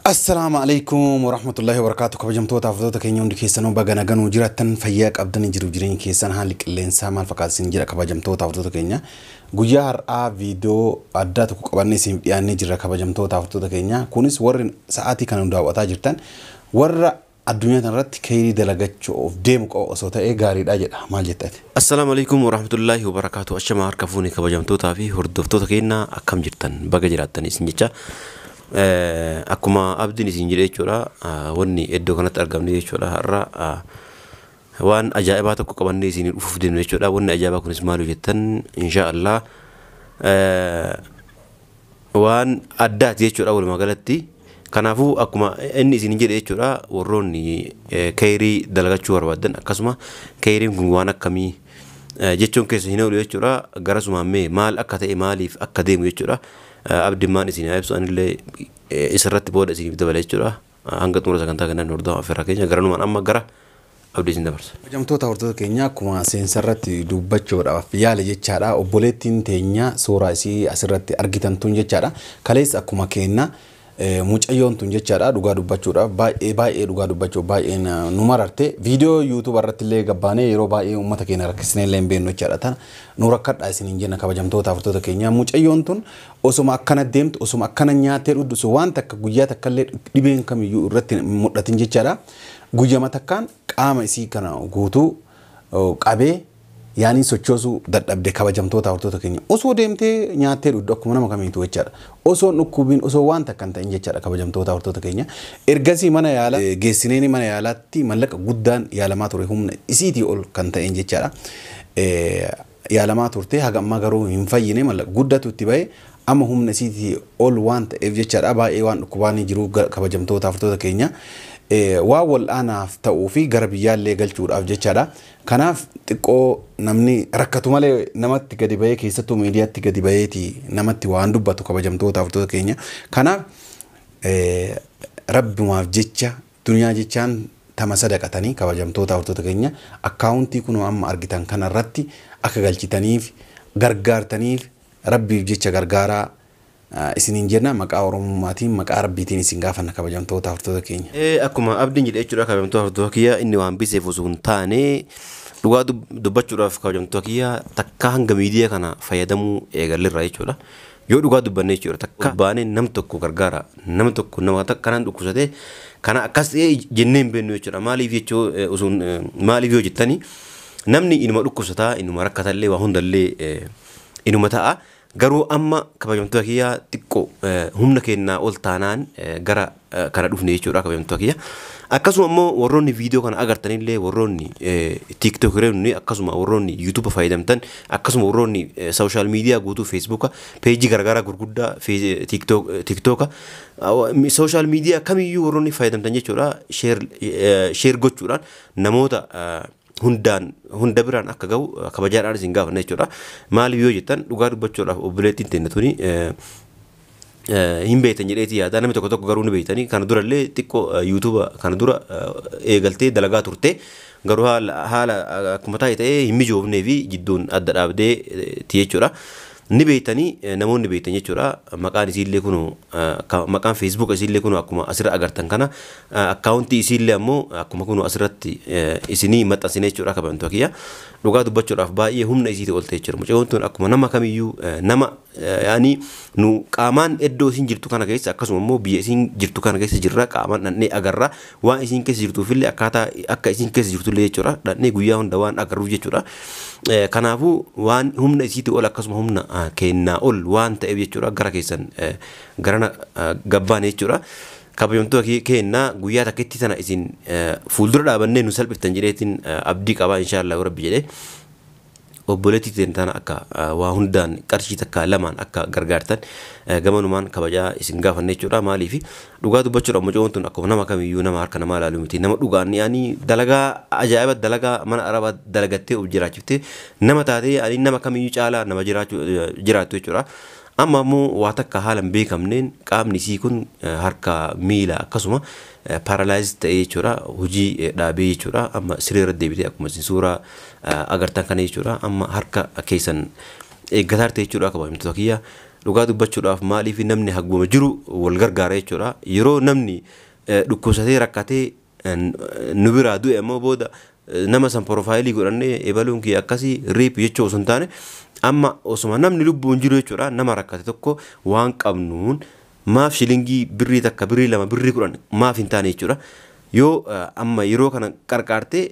Assalaamu alaikum warahmatullahi wabarakaatu kabajamtoota hafatoota keenya hundi keessanuu baga naganuu jiraattan fayyaa qabdan jiru jireenya keessan haalli qilleensaa maal fakkaata isin jira kabajamtoota hafatoota keenya guyyaa har'aa viidiyoo addaa tokko qabannee isiniif dhiyaannee jirra kabajamtoota hafatoota keenya kunis warri sa'aatii kana nu daawwataa jirtan warra Addunyaa tanarratti keyrii dalagachu'uuf deemu qofa osoo ta'ee gaariidha jedha. Maal jetta ati? Assalaamu Aleykum Warahmatullaahi Wabarakaatu Ashama harka fuune kabajamtootaa fi hordoftoota keenya akkam jirtan baga jiraattanii isin jecha akkuma abdiin isin jedhe jechuudha wanni iddoo kanatti argamne jechuudha har'a waan ajaa'ibaa tokko qabannee isin dhufuuf deemne jechuudha wanni ajaa'ibaa kunis maal jettan inshaa Allah waan addaati jechuudha walumaa galatti. Kanaafuu akkuma inni isin jedhe jechuudha warroonni keeyrii dalagachuu barbaaddan akkasuma keeyriin kun waan akkamii jechuun keessa hin oolu jechuudha garasumaan mee maal akka ta'e maaliif akka deemu jechuudha abdimmaan isin haa ibsu anillee isarratti booda isiniif dabala jechuudha. Hanga xumura sagantaa keenyaa nu hordofaa affeerraa keenya. Garanumaan amma gara abdii isin dabarsa. Kabajamtoota hordoftoota keenyaa akkuma seensa irratti dubbachuudhaaf yaale jechaadha. Obboleettiin teenya suuraa isii asirratti argitan tun jechaadha. Kaleessa akkuma keenna mucayyoon tun jechaadha dhugaa dubbachuudhaaf baay'ee baay'ee dhugaa dubbachuuf baay'ee nu mararte. Viidiyoo yuutuuba irratti illee gabbaanee yeroo baay'ee uummata keenya rakkisnee illee hin beeknu jechaadha. Tana nu rakkadhaa isiniin jenna kabajamtoota hordoftoota keenyaa. Mucayyoon tun Osoma akkana deemtu, osoma akkana nyaattee dhugdu, osoo waan takka guyyaa takka illee dhibeen kamiyyuu irratti hin mul'atin jechaadha. Guyyama takkaan qaama isii kana guutuu qabee yaaniin sochoosuu dadhabde kabajamtoota hortoota keenya. Osoo deemtee nyaattee dhugdu akkuma nama kamiitu jechaadha. Osoo hin dhukkubiin, osoo waan takka hin ta'in jechaadha kabajamtoota hortoota keenya. Ergasii mana yaala geessineeni mana yaalaatti mallaqa guddaan yaalamaa ture humna isiitii ol kan ta'een jechaadha. yaalamaa turte haga ammaa garuu hin fayyine mallaqa guddatu itti bahe amma humna isiiti ol waan ta'eef jechaadha baay'ee waan dhukkubaanii jiruu kabajamtoota haftoota keenya waan wal'aanaaf ta'uu fi gara biyyaallee galchuudhaaf jechaadha kanaaf xiqqoo namni rakkatu malee namatti gadi bahee keessattuu miidiyaatti gadi baheeti namatti waan dubbatu kabajamtoota haftoota keenya kanaaf rabbumaaf jecha Duniyaa jechaan tama sadaqatani kabajamtoota hortoota keenya account kunoo amma argitan kana irratti akka galchitaniif gargaartaniif rabbiif jecha gargaaraa isiniin jenna maqaa oromummaatiin maqaa rabbiitiin isin gaafanna kabajamtoota hortoota keenya. Ee akkuma abdiin jedhe jechuudha kabajamtoota hortoota kiyya inni waan biseef osoo hin taane dhugaa dubbachuudhaaf kabajamtoota kiyya takkaa hanga miidiyaa kana fayyadamuu eegalleerra jechuudha Yoo dhugaa dubbanne jechuudha takka baanee nam tokko gargaara nama tokko nama takka kanaan dhukkubsatee kana akkas ta'ee jennee hin beeknu jechuudha maaliif jechuu eh, usuun eh, maaliif yoo jettani namni inuma dhukkubsataa inuma rakkatallee waa hundallee eh, inuma ta'a garuu amma kabajamtoota kiyyaa xiqqoo eh, humna kennaa ol taanaan eh, gara kana dhufne jechuudha kabajamtoota kiyya. Akkasuma immoo warroonni viidiyoo kana agartanillee warroonni tiiktookironni akkasuma warroonni yuutuuba fayyadamtan akkasuma warroonni sooshaal miidiyaa guutuu feesbuuka peejii garaagaraa gurguddaa tiiktooka sooshaal miidiyaa kamiyyuu warroonni fayyadamtan jechuudha sheer gochuudhaan namoota hundaan hunda biraan akka ga'u kabajaadhaan isin gaafanna jechuudha. Maaliif yoo jettan dhugaa dubbachuudhaaf obboleettiin teenna tuni eh, eh, hin beektan jedheetii yaada namni tokko tokko garuu ni beektanii kana durallee xiqqoo eh, yuutuuba kana dura eh, eegaltee dalagaa turte garuu haala, haala eh, akkuma taa'e ta'ee hin mijoofnee fi jidduun adda dhaabdee eh, ti jechuudha. Ni beektani namoonni beektan jechuudha maqaan isiillee kunu maqaan feesbuuka isiillee kunu akkuma asirra agartan kana akkaawuntii isiillee ammoo akkuma kunu asirratti isinii maxxansine jechuudha kabajamtoota kiyya dhugaa dubbachuudhaaf baay'ee humna isiitii olte jechuudha mucayyoon tun akkuma nama kamiyyuu nama yaani nu qaamaan iddoo isiin jirtu kana keessa akkasuma immoo biyya isiin jirtu kana keessa jirra qaamaan dhandhee agarra Waan isiin keessa jirtuufillee akkaataa akka isiin keessa jirtullee jechuudha dhaqnee guyyaa hunda waan agarruuf jechuudha. Eh, Kanaafuu waan humna isiitii ol akkasuma humna ah, keennaa ol waan ta'eef jechuudha gara keessan eh, garana ah, gabbaane jechuudha. Kabajamtoota kee- keennaa guyyaa takkitti sana isin eh, fuuldura dhaabannee nu salphiftan jedheetiin eh, abdii qabaa inshaallah rabbi jedhee. Obboleettii teenna tana akka waa hundaan qarshii takkaa lamaan akka gargaartan gamanumaan kabajaa isin gaafanna jechuudha. Maaliif dhugaa dubbachuudhaaf mucoon tun akkuma nama kamiyyuu nama harka namaa ilaalu miti. Nama dhugaan yaani dalagaa ajaa'iba dalagaa mana arabaa dalagattee of jiraachiftee nama taatee yaani nama kamiyyuu caalaa nama jiraachuu jiraattu jechuudha. Amma ammoo waa takka haala hin beekamneen qaamni isii kun harka miila akkasuma paralyzed ta'ee jechuudha. Hojii dhaabee jechuudha. Amma siree irra deebitee akkuma isin suuraa agartan kana jechuudha. Amma harka keessan eeggataa jirti jechuudha kabajamtoota kiyya. Dhugaa dubbachuudhaaf maaliif namni haguma jiru wal gargaara jechuudha. Yeroo namni dhukkubsatee rakkatee nu biraa du'e ammoo booda nama san porofaayilii godhannee ebaluun kiyya akkasii riip jechuu osoo hin taane amma osuma namni lubbuun jiru jechuudha nama rakkate tokko waan qabnuun maaf shilingii birrii takka birrii lama birrii kudhan maaf hin taane jechuudha yoo amma yeroo kana qarqaartee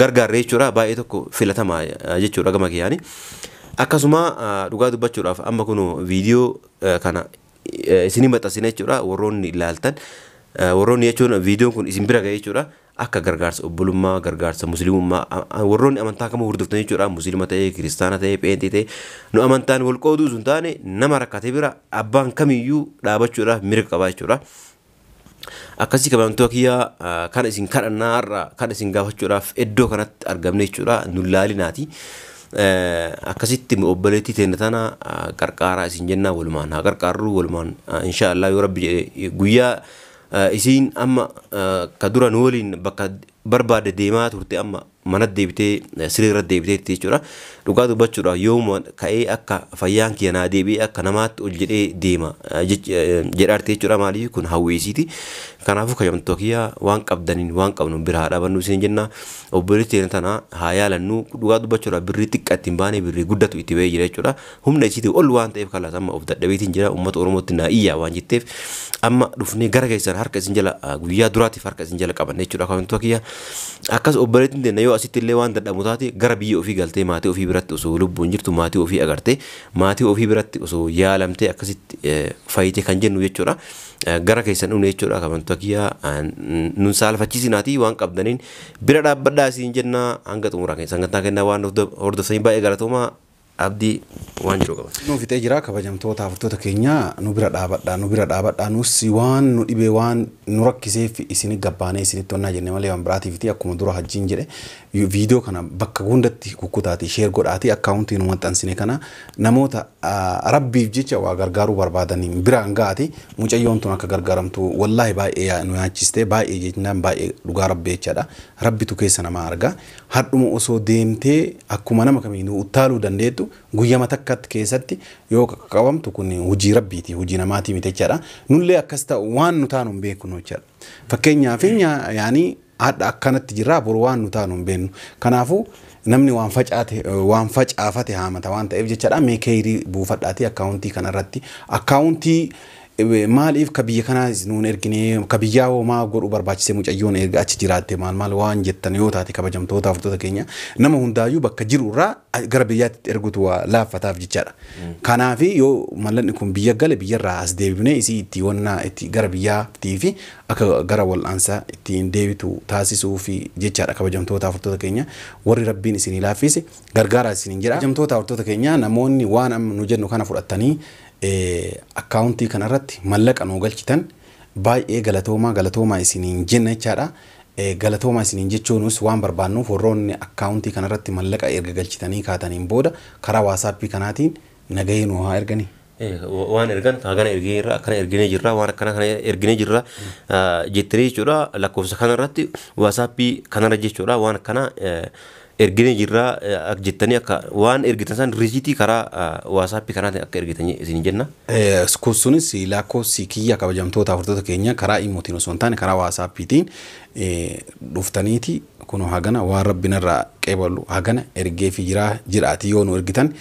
gargaarre jechuudha baay'ee tokko filatamaa jechuudha gama kiyyaani. Akkasuma dhugaa dubbachuudhaaf amma kun viidiyoo kana isinii maxxansina jechuudha warroonni ilaaltan warroonni jechuun viidiyoon kun isin bira ga'e jechuudha. akka gargaarsa obbolummaa, gargaarsa muslimummaa, a, a, warroonni amantaa kamuu hordoftan jechuudha, muslima ta'ee, kiristaana ta'ee, pheenxee ta'ee, nu amantaan wal qooduu osoo hin taane nama rakkate bira abbaan kamiyyuu dhaabachuudhaaf mirga qaba jechuudha. Akkasii kabajamtoota kiyyaa a, kan isin kadhannaa har'a kan isin gaafachuudhaaf iddoo kanatti argamne jechuudha, nu laalinaati. Eh, Akkasitti nu obboleettii teenya tana a, qarqaaraa isin jennaa walumaan haa qarqaarru walumaan a, inshaa Allah yoo rabbi jedhe guyyaa Isiin amma ka dura nu waliin bakka barbaadde deemaa turte amma manatti deebitee siree irratti deebiteetti jechuudha. Dhugaa dubbachuudhaaf yoomuma ka'ee akka fayyaan kiyya naa deebi'ee akka namaatti ol jedhee deema jedhaarti jechuudha. Maaliif kun hawwii isiiti. Kanaafuu kabajamtoota kiyya waan qabdaniin waan qabnuun bira haa dhaabannuu isin jenna. Obboleetti teenya tana haa yaalannuu. Dhugaa dubbachuudhaaf birrii xiqqaa ittiin baanee birrii guddatu itti ba'ee jira jechuudha. Humna isiitii ol waan ta'eef kalaas amma of dadhabeetiin jira uummata Oromootti naa iyyaa waan jetteef amma dhufnee gara keessan harka isin jala ah, guyyaa duraatiif harka isin jala qabanne jechuudha akaawwantoota kiyya. Akkas obboleettiin teenna yoo asitti illee waan dadhabu taate gara biyya ofii galtee maatii ofii biratti osoo lubbuun jirtu maatii ofii agartee maatii ofii biratti osoo yaalamtee akkasitti eh, fayyite kan jennu jechuudha. Eh, Gara keessan dhufne jechuudha akaawwantoota kiyya ah, n- nun saalfachiisinaatii waan qabdaniin bira dhaabbadhaa isin jenna hanga xumuraa keessa sagantaa kennaa waan hordof- hordoftanii baay'ee galatoomaa Abdi waan jedhu qaba. Kunoo fixee jira kabajamtoota hafrtoota keenya nu bira dhaabadha nu bira dhaabadha nus waan nu dhibee waan nu rakkiseef isini gabbaanee isinitti onnaa jenne malee waan biraatiifiti akkuma dura hajjiin jedhe video kana bakka hundatti kukkutaati share godhaati account nu maxxansine kana namoota rabbiif jecha waa gargaaruu barbaadaniin biraan gaati mucayyoon tun akka gargaaramtu wallaahi baay'ee nu yaachiste baay'ee jechnaan baay'ee dhugaa rabbi jechaadha rabbitu keessa namaa arga hardhuma osoo deemtee akkuma nama kamiinuu uttaaluu dandeettu guyyama takkatti keessatti yoo qabamtu kun hojii rabbiiti hojii namaatii miti jechaadha nullee akkas ta'u waan nu taanu hin beeknu jechaadha fakkeenyaa fi yaanii hadha akkanatti jirraa boru waan nu taanu hin beeknu kanaafuu namni waan facaate waan facaafate haamata waan ta'eef jechaadha mee keeyrii buufadhaatii akkaawuntii kanarratti akkaawuntii Maaliif ka biyya kanaa is nuun ergine ka biyyaa hoo maa godhuu barbaachise mucayyoon erga achi jiraatte maal maal waan jettan yoo taate kabajamtoota hordota keenya nama hundaayyuu bakka jiru irraa a- gara biyyaatti itti ergutu waa laaffataaf jechaadha. Kanaafi yoo mallanni kun biyya gale biyyarraa as deebifnee isii itti wannaa itti gara biyyaattii fi akka gara wal'aansa ittiin deebitu taasisuu fi jechaadha kabajamtoota hordota keenya warri rabbiin isinii laaffiise gargaaraa isiniin jedha. Kabajamtoota hordota keenya namoonni waan amma nu jennu kana fudhattanii Accountii kana irratti mallaqa nuu galchitan baay'ee galatoomaa galatoomaa isiniin jenna jechaadha. Galatoomaa isiniin jechuunuus waan barbaannuuf warroonni accountii kana irratti mallaqa erga galchitanii kaataniin booda karaa WhatsApp kanaatiin nagahee nuu haa erganii. Waan ergan hagana erginee jirra akkana erginee jirra waan akkana kana erginee jirra jettanii jechuudha lakkoofsa kana irratti WhatsApp kanarra jechuudha waan akkana Erginee jirra akka jettanii akka waan ergitan san riisiitii karaa waasaappii kanaatiin akka ergitan isin jenna. Kun sunis lakkoofsi kiyya kabajamtoota hordoftoota keenya karaa imootiin osoo hin taane karaa waasaappiitiin dhuftaniiti kunoo hagana waan rabbi narraa qeebalu hagana ergeefi jiraa jiraatii yoo nu ergitan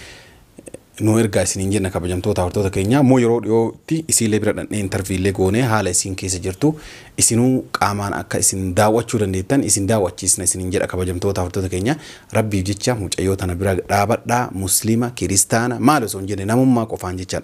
nuu ergaa isiniin jenna kabajamtoota hortoota keenyaa immoo yeroo dhiyootti isiilee bira dhannee intarviillee goonee haala isiin keessa jirtu isinuu qaamaan akka isin daawwachuu dandeettan isin daawwachiisna isiniin jedha kabajamtoota hortoota keenyaa rabbiif jecha mucayyoo tana bira dhaabadhaa musliima kiristaana maal osoo hin jenne namummaa qofaan jechaan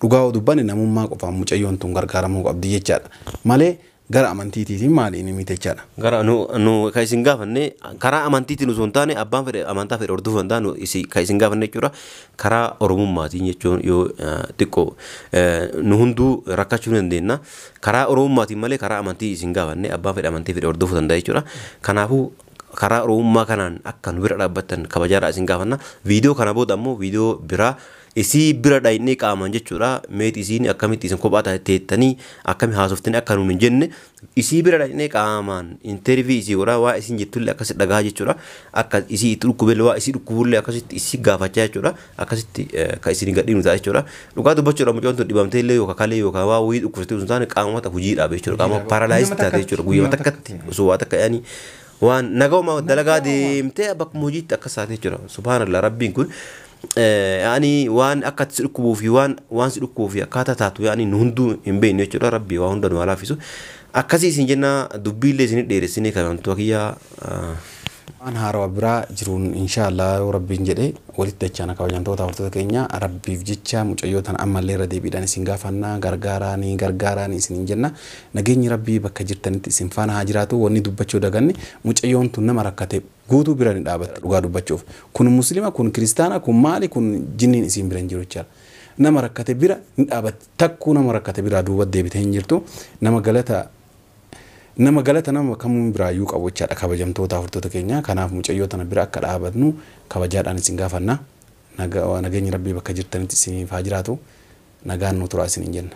dhugaa dubbanne namummaa qofaan mucayyoon tun gargaaramuu qabdi jechaadha malee Gara amantiitiitiin maali inni miitechadha? Gara nu nu kan isin gaafanne karaa amantiitiin osoo hin taane abbaan fedhe amantaa fedhe hordofuu danda'a nu isi kan isin gaafanne jechuudha karaa oromummaatiin jechuun yoo eh, xiqqoo eh, nu hunduu rakkachuu ni dandeenya karaa oromummaatiin malee karaa amantii isin gaafanne abbaan fedhe amantii fedhe hordofuu danda'a jechuudha kanaafuu karaa oromummaa kanaan akka nu bira dhaabbattan kabajaadhaa isin gaafanna viidiyoo kana booda ammoo viidiyoo biraa Isii bira dhaynnee qaamaan jechuudha meet isiin akkamitti isin kophaa taate teettanii akkami haasoftanii akka nuun hin jenne isii bira dhaynnee qaamaan intervii isii godhaa waa isiin jettullee akkasi dhagahaa jechuudha akka isii itti dhukkubelle waa isii dhukkubullee akkasitti isii gaafachaa jechuudha akkasitti eh, ka isin gadhiinu ta'a jechuudha dhugaa dubbachuudha mucoon tun dhibamtee illee yookaan kalee yookaan waa wayii dhukkubsatee osoo hin taane qaamota hojii dhaabe jechuudha qaama Hojiidha. paaralaayis Guyyuma taate jechuudha takkatti. guyyuma takkatti Mm. osoo waa takka yaanii waan nagawma dalagaa Nagawma. deemtee bakkuma hojiitti akkas taate jechuudha subhaanallah rabbiin kun Yaani waan akka itti si dhukkubuu fi waan waan si dhukkubuu fi akkaataa taatu yaani nu hunduu hin beeknu jechuudha rabbi waa hunda nu haa laaffisu. Akkasii isin jenna dubbii illee isin dheeressinee kan wantoota kiyyaa waan haarawa biraa jiruun inshaallah yoo rabbiin jedhe walitti dachaana kabajamtoota hordoftoota keenya rabbiif jecha mucayyoo tana ammallee irra deebiidhaan isin gaafanna gargaaraanii gargaaraanii isin hin jenna nageenyi rabbii bakka jirtanitti isin faana haa jiraatu wanni dubbachuu daganne mucayyoon tun nama rakkate Guutuu bira ni dhaabatta dhugaa dubbachuuf kun muslima kun kiristaana kun maali kun jinniin isiin bira hin jiru jechaadha nama rakkate bira ni dhaabatti takkuu nama rakkate biraa duuba deebite hin jirtu nama galata nama galata nama kamuun biraayyuu qabu jechaadha kabajamtoota hordota keenya kanaaf mucayyoo tana bira akka dhaabatnu kabajaadhaan isin gaafanna nageenyi rabbii bakka jirtanitti isiniif haa jiraatu nagaan nu turaa isiniin jenna.